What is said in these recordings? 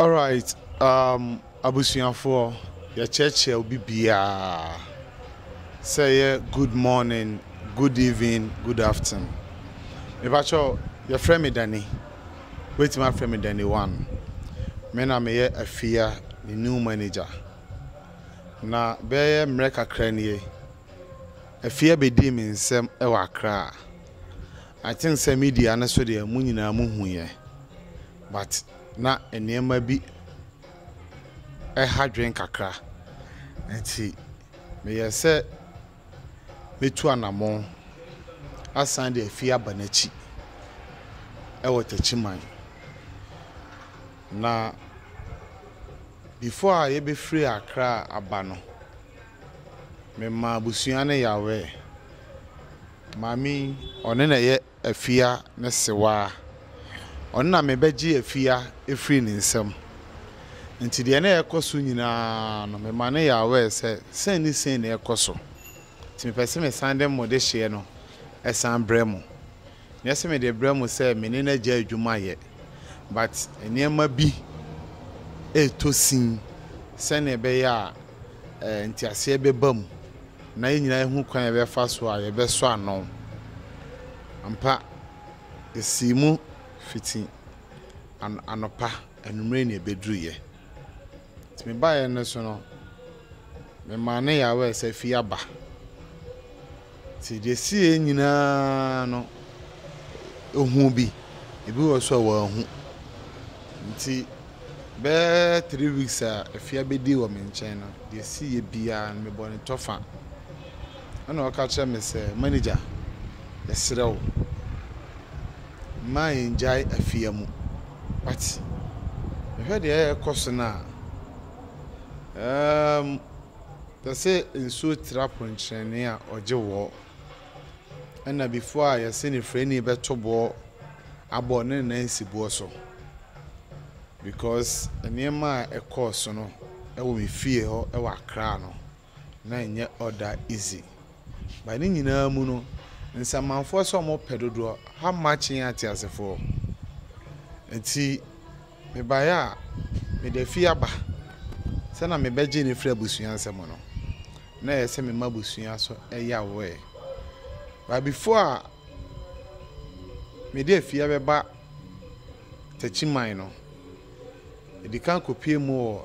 Alright um abusuafoɔ yɛkyerɛkyerɛ obi biaa sɛ ɛyɛ good morning, good evening, good afton. Mepakyɛw yɛfrɛ me Dani, wobɛtumi afrɛ me Dani one. Me na meyɛ Afia ne new manager. Na bɛyɛ mmerɛ kakra nie, Afia bɛdii me nsam wɔ Accra. I think sɛ media no so deɛ mo nyinaa mohuiɛ. But na nneɛma bi ha dwen kakra, nti meyɛɛ sɛ mɛtu anamɔn asan de afie aba n'akyi wɔ Takyiman. Na before a yɛbɛfiri Accra aba no, memaa abusua no yawɛɛ. Maame yi, ɔno na ɛyɛ. afia ne sewaa. Ɔno na mebɛgye afia afiri ne nsam. Nti deɛ na ɛrekɔ so nyinaa no, mema no yɛ aware sɛ sei ne sei na ɛrekɔ so. Nti mepɛ sɛ mesan de mo dehyeɛ no san brɛ mo. Nyɛ sɛ mede rebrɛ mo sɛ me ne no agyae adwuma yɛ, but nneɛma bi retɔ sin sɛdeɛ ɛbɛyɛ a nteaseɛ bɛba mu. na yɛn nyinaa ahu kwan a yɛbɛfa so a yɛbɛsɔ ano. Ampa, yesii mu fiti anɔpa, anwummere na ebeduruiɛ. Nti me baeɛ no so no, memaa ne yawɛɛ sɛ fie aba. Nti deɛ ɛsii yɛn nyinaa no, ɔhuu bi, ebi wɔ so a wanhu. Nti. Bɛyɛ three weeks a efi abedi wɔ me nkyɛn no, deɛ ɛsiiɛ biara no, mebɔ no kyɔfa. Ɛna ɔka kyerɛ me sɛ, Manager, yɛsrɛ wo, mma yɛnngyae afia mu. But, mehwɛ deɛ ɛrekɔ so no a, ɛɛm, te sɛ nsuo tra ponkyerɛnee a ɔgye wɔ. ɛna before a yɛse ne frɛni bɛto boɔ abɔ ne nan si boɔ so because nneɛma a ɛkɔɔ so no ɛwɔ me fie hɔ ɛwɔ akra no na ɛnyɛ ɔda easy ba ne nyinaa mu no nsamanfoɔ sɛ ɔmo pɛ dodoɔ how much yɛn ateasefoɔ nti Mebaeɛ a, mede afie aba sɛ na mebɛgye no afiri abusua nsam no, na ɛyɛ sɛ mema abusua so yawee. But before a mede afie abɛba Takyiman no, medi kan kɔpue mu wɔ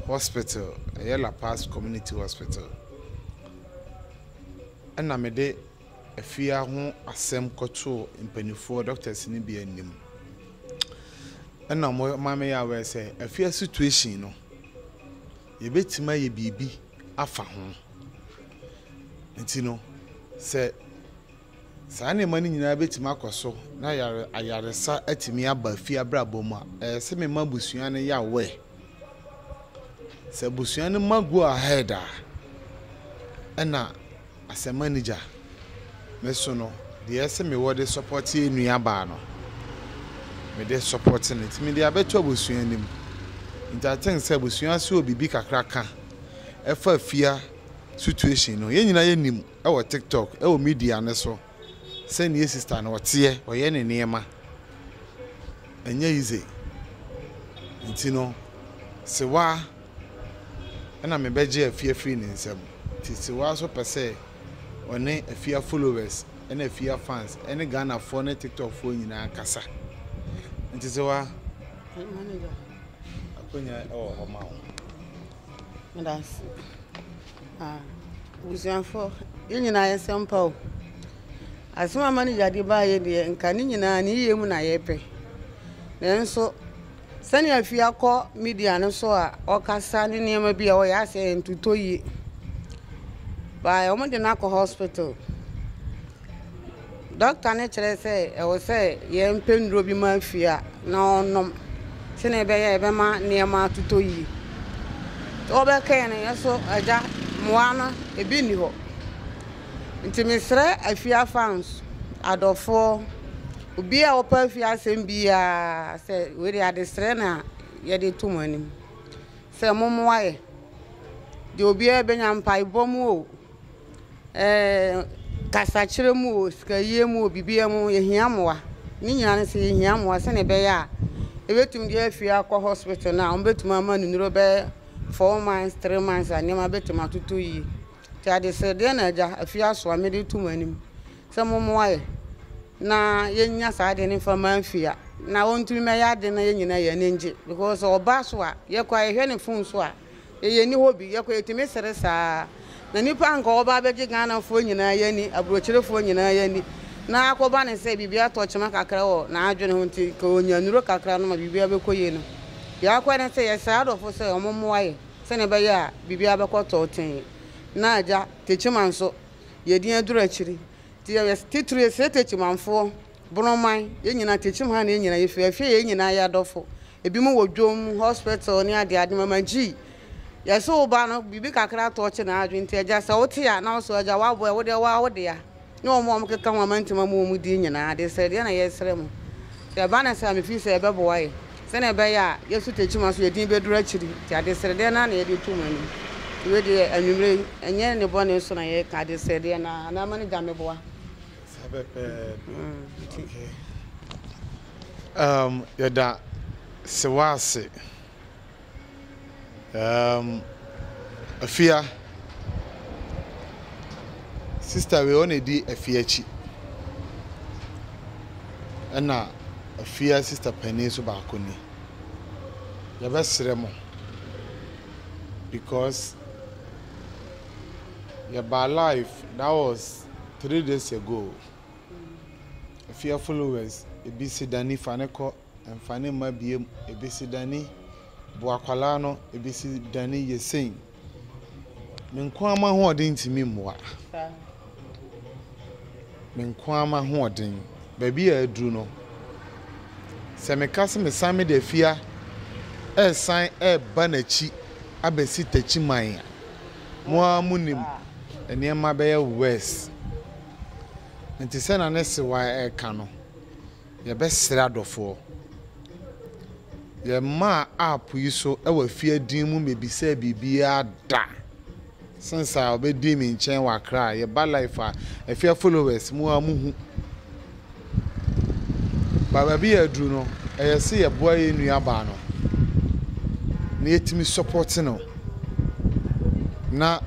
hospital, ɛyɛ La Paz Community Hospital, ɛna mede. afia ho asɛm kɔtoo mpanimfoɔ doctors no bi anim ɛna wɔn ma me yɛ aware sɛ afia situation no yɛbɛtumi ayɛ biribi afa ho nti no sɛ saa nneɛma no nyinaa bɛtumi akɔ so na yare ayaresa atumi aba afia abrabɔ mu a ɛyɛ sɛ mema abusua no yɛ aware sɛ abusua no ma go ahead a ɛna As a manager, me so no deɛ ɛse me wɔ de support yɛ nua baa no, me de support no nti me de abɛto abusua no mu. Nti I think sɛ abusua so wɔ biribi kakra ka ɛfa afia situation no. Yɛn nyinaa yɛ nim ɛwɔ TikTok, ɛwɔ media no so sɛ nea sister no ɔteɛ, ɔyɛ ne nneɛma. Ɛnyɛ easy. Nti no, Sewaa. Ɛna me bɛgye afie afiri ne nsam nti Sewaa nso pɛ sɛ ɔne afia followers ɛne afia fans ɛne Ghanafoɔ ne tiktok foɔ nyinaa kasa nti Sewaa akonya ɛwɔ hɔ ma wo. Medase. Ah, busuafoɔ, yɛn nyinaa yɛ sɛ mpa o. Asɛm a manager de baayɛ deɛ, nka ne nyinaa ne yie mu na yɛpɛ. Nanso, Sɛnea afie akɔ media no so a ɔkasa ne nneɛma bi a ɔyɛ asɛ ntotɔ yie by wɔn de no akɔ hospital dɔkta no kyerɛ sɛ ɛwɔ sɛ yɛn mpɛ nnuro bi ma afie a na ɔnom sɛnea ɛbɛyɛ a ɛbɛma nneɛma atotɔ yie wɔbɛkɛn no yɛ so agya mmoa no ebi nni hɔ Nti mesrɛ afia fans, adɔfoɔ, obiaa a ɔpɛ afia asɛm biaa sɛ wei deɛ adesrɛ na yɛde to mo anim sɛ mommoa yɛ deɛ obiaa bɛnya mpaebɔ mu o, ɛɛ kasakyerɛ mu o, sikayie mu o, biribiaa mu yɛhia mmoa. Ne nyinaa no sɛ yɛhia mmoa sɛdeɛ ɛbɛyɛ a yɛbɛtumi de afia akɔ hospital no a wɔbɛtumi ama no nnuro bɛyɛ four months, three months a nneɛma bɛtumi atotɔ yie. Nti adesrɛ, deɛ na Agya afie aso a mede reto mo anim sɛ mommoa yɛ na yɛnya saa adeɛ no mfa mma Afia na ɔntumi mmɛyɛ adeɛ na yɛn nyinaa yɛn ani ngye because sɛ ɔba so a yɛkɔ a yɛhwɛ ne phone so a yɛn ani hɔ bi yɛkɔ yɛtumi sere saa na nipa nka ɔba abɛgye Ghanafoɔ nyinaa yɛn ani aburokyerefoɔ nyinaa yɛn ani na akɔba ne sɛ biribi atɔ kyema kakra wɔ n'adwene ho nti ka ɔnya nuro kakra no ma biribi abɛkɔ yie no yɛakɔ ne sɛ yɛsrɛ adɔfo sɛ ɔmommoa yɛ sɛnea ɛbɛyɛ a biribiara bɛkɔ tɔɔtee. Ná Agya Techiman nso yɛ din aduru akyiri. Enti yɛyɛ titire sɛ Techimanfoɔ, Borɔman, yɛn nyinaa Techiman na yɛn nyinaa yɛfiri. Afei yɛn nyinaa yɛ adɔfo. Ebinom wɔ dwom, hospital ne adeade. Mama G, yɛse wo ba no, biribi kakra tɔɔkye n'adwene. Enti Agya, sɛ wote a na wosɔ Agya, woaboa a, wo deɛ wo ara wo dea. ne wɔn a wɔkeka ho amantam amu wɔn din nyinaa de srɛ, deɛ na yɛresrɛ mo, sɛ ɛba no saa a, mefiri sɛ ɛbɛboa yɛn, sɛdeɛ ɛbɛyɛ a yɛn sutekyima so yɛn din bɛduru akyiri, nti adesrɛdeɛ no ara na yɛde to mo anim. Nti wei deɛ, anwummerɛ yi, ɛnyɛ nnebɔne so na yɛreka, adesrɛdeɛ no ara, anaa ma no gya mmeboa. Saa pɛpɛɛpɛ, ok. Umm yɛda Sewa ase. Ɛɛm afia. Sista wei ɔna edi afia akyi. Ɛna afia sista panin nso baako ni. Yɛbɛsrɛ mo because yɛbaa live that was three days ago. Afia followers ebi si dani fa ne kɔ. Mfa ne mma biom ebesi dani bo akwadaa no ebesi dani yɛ sei me nkoaa m'ahoɔden ntumi mmoa me nkoaa m'ahoɔden baabi a aduru no sɛ meka sɛ mesan mede afia ɛresan ɛreba n'akyi abɛsi takyi man a mo ara mo nim nneɛma bɛyɛ worse nti sɛ na ne sewa ɛreka no. Yɛbɛsrɛ adɔfoɔ. Yɛmmaa app yi so wɔ afie din mu mmebisaa biribiara da since a ɔbɛdii me nkyɛn wɔ Accra a yɛba life a afia followers mo a mohu ba baabi yɛ aduru no ɛyɛ sɛ yɛboa yɛn nua baa no na yɛtumi support no na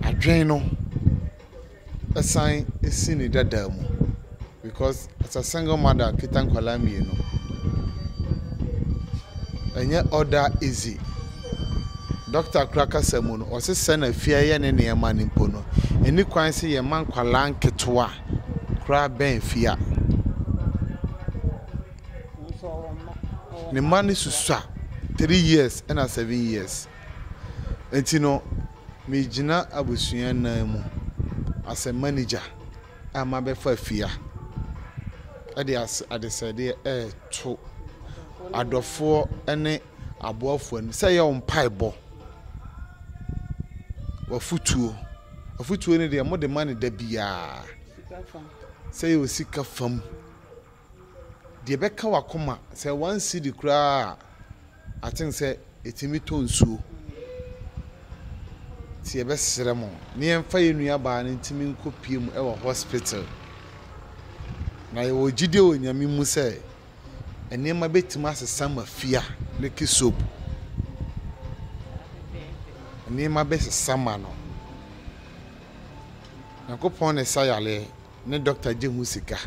adwene no Ɛsan si ne dada mu because as a single mother kita nkwadaa mmienu ɛnyɛ all that easy. Doctor kora kasa mu no, ɔse sɛ na fie ayɛ ne nneɛma no mpo no, ɛni kwan sɛ yɛma nkwadaa nketewa koraa bɛn fie a. Ne mma no susua three years ɛna seven years. Enti no, megyina abusua nan mu as a manager a mabɛfa fia de ase adesrɛdeɛ reto adɔfoɔ ne aboafoɔ anim sɛ yɛ wo mpaebɔ, w'afutuo. Afutuo no deɛ mode ma no da biara. Sika fam. Sɛ yɛ wɔ sika fam. Deɛ ɛbɛka w'akoma, sɛ one cedi koraa a, I think sɛ ɛtumi tɔ nsuo. Nti yɛbɛsrɛ mo, ne yɛmfa yɛn nuabaa no ntumi nkɔpue mu wɔ hospital. Na yɛwɔ gyidie wɔ Nyame mu sɛ, nneɛma bɛtumi asesa ma fia ne Kisop. Nneɛma bɛsesa ma no. Nyankopɔn na ɛsa yareɛ. ne doctor gye ho sika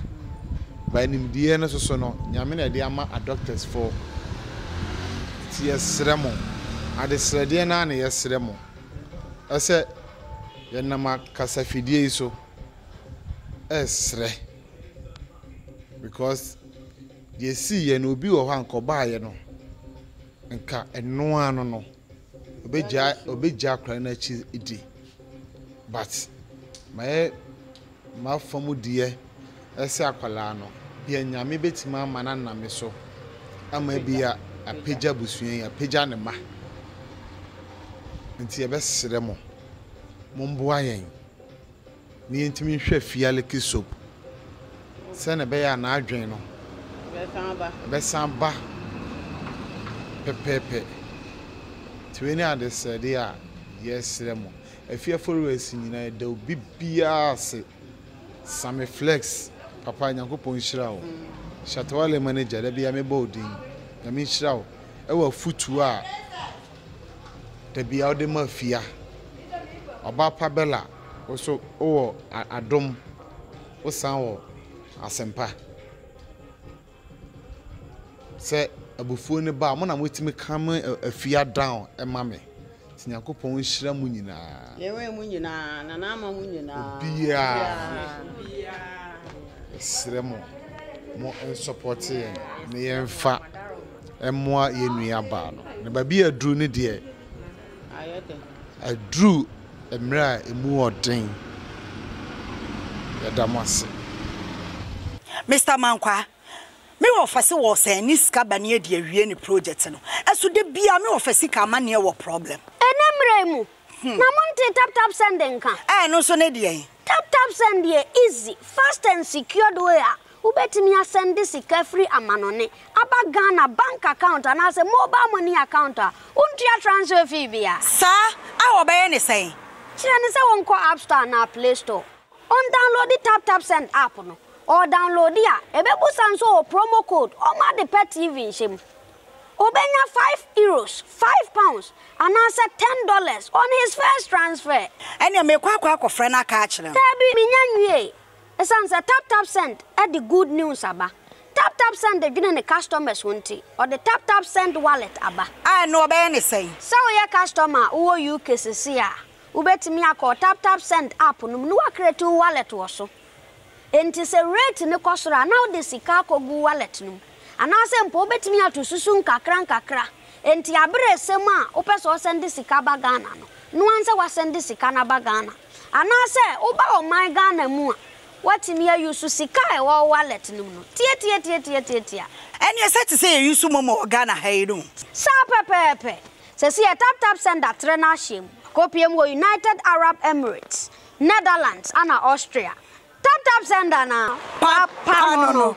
but nimdeɛ no soso no Nyame na ɛde ama a doctors fo nti yɛsrɛ mo adesrɛdeɛ no ara na yɛsrɛ mo ɛsɛ yɛnam akasafidie yi so ɛsrɛ because deɛ ɛsiiɛ no obi wɔ hɔ a nka ɔbaeɛ no nka ɛnoa no no obegyaa obegyaa akwadaa no akyi di but mayɛ m'afa mu deɛ ɛsɛ akwadaa no deɛ nyame betumi ama no anam me so ama bi a apagya abusua yi apagya ne ma nti yɛbɛsrɛ mo mo mboa yɛn. na yentumi nhwɛ Fialiki soap sɛnea ɛbɛyɛ a n'adwene no bɛsan aba pɛpɛɛpɛ. Nti wei ne adesrɛde a yɛresrɛ mo. Afi Aforewɛsi nyinaa yɛda obi biara ase. Sammy Flex, papa Nyankopɔn nhyira wo. Shatta Wale manager, da biara mebɔ wo din. Nyame nhyira wo wɔ afotuo a Dabi a ɔde ma afia. Ɔbaa pa Bella wo so wowɔ adom wo san wɔ asempa sɛ abufuo no ba a mo na mo tumi calm afia down ɛma me nti nyankopɔn nhyira mo nyinaa. Yɛwɛ mo nyinaa na n'ama mo nyinaa. Obiara. Yɛsrɛ mo mo nsɔpɔte yɛn na yɛmfa. Ɛmmoa yɛn nua baa no. Na baabi a aduru no deɛ, aduru mmerɛ a ɛmu ɔden. Yɛda mo ase. Mister Mankwaa, me wɔ fɛse wɔ sɛ ne sika ba ne adi awie ne project no ɛso da biaa me wɔ fɛ sika ama neɛ wɔ problem. Ɛnɛ mmerɛ yi mu na mo ntee tap tap send nka. Ɛɛ ɛno nso ne deɛn? Tap tap send yɛ easy, fast and secured way a Wobɛtumi asɛnde sika firi amanɔne aba Ghana bank account anaasɛ mobile money account a wontua transfer fee bia. Saa a wɔbɛyɛ ne sɛn? Kyerɛ no sɛ ɔnkɔ App Store anaa Play Store, ɔndownloadi Tap Tap Send app no. Ɔredownloadi a, ɛbɛbusa no sɛ ɔwɔ promo code ɔma ade pɛ TV nhyɛ mu. Ɔbɛnya five Euros, five pounds, anaasɛ ten dollars on his first transfer. Ɛneɛ merekɔ akɔ akɔfrɛ no aka akyerɛ no. Daabi, menya nwiee. Esiane sɛ TapTapSend de good news aba, TapTapSend dwene ne customers ho nti, ɔde TapTapSend Wallet aba. A ɛno wɔbɛyɛ no sɛn? Sɛ woyɛ customer a wowɔ UK sesei a, wobɛtumi akɔ wo TapTapSend app no mu na woacreate wo wallet wɔ so. Enti sɛ rate no kɔ soro a, na wode sika akɔgu wo wallet no mu. Anaasɛ mpo wobɛtumi ato susu nkakra nkakra. Enti aberɛ resɛm a wopɛ sɛ wosɛnde sika ba Ghana no, noa nsɛ woasɛnde sika no aba Ghana. Anaasɛ woba ɔman Ghana mu a, woatumi ayusu sika a ɛwɔ wo wallet no mu no tiatiatiatiatiatia. Ɛnneɛ sɛ te sɛ yɛyusu momo wɔ Ghana ha yi no. Saa pɛpɛɛpɛ. Seesei yɛ Tap Tap Send atrɛ no ahyɛ mu. Kɔpue mu wɔ United Arab Emirates, Netherlands, ɛnna Austria. Tap Tap Send anaa? Pa, pa no no.